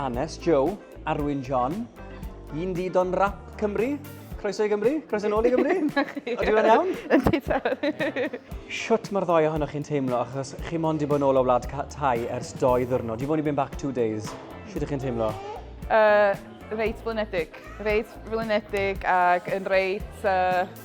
Annes Joe, Arwyn John, un di don rap Cymru, Croeso i Gymru? Croeso yn ôl i Gymru? Ydw i'n iawn? Ydy ta. Siwt mae'r ddoi ohonoch chi'n teimlo, achos chi mond i bod yn ôl o wlad tai ers doi ddwrnod. You've only been back two days. Siwt ydych chi'n teimlo? Uh, reit flynedig. Reit flynedig ac yn reit... Uh,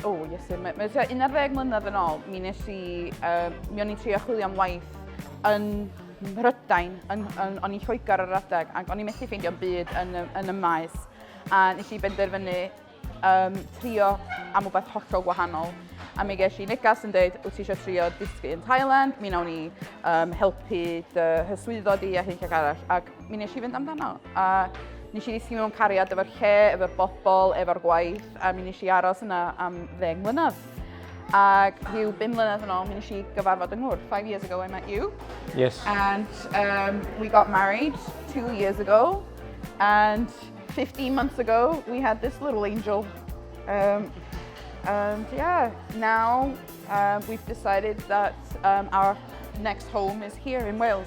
O, oh, iesu, mae, mae 11 mlynedd yn ôl, mi nes i, uh, mi o'n i'n trio chwilio am waith yn Mhrydain, yn, yn, o'n i'n Lloegr ar adeg, ac o'n i'n methu ffeindio byd yn, yn y maes. A nes i benderfynu um, trio am rhywbeth hollol gwahanol. A mi ges i negas yn dweud, wyt ti eisiau trio dysgu yn Thailand? Mi nawn ni um, helpu dy hyswyddo di a hyn ag arall. Ac Mi nes i fynd amdano, a nes i ddisgyn mewn cariad efo'r lle, efo'r bobl, efo'r gwaith, a mi nes i aros yna am ddeng mlynedd. Ac rhyw bum mlynedd yn ôl, mi nes i gyfarfod yng Ngwr. Five years ago I met you. Yes. And um, we got married two years ago. And 15 months ago, we had this little angel. Um, and yeah, now um, we've decided that um, our next home is here in Wales.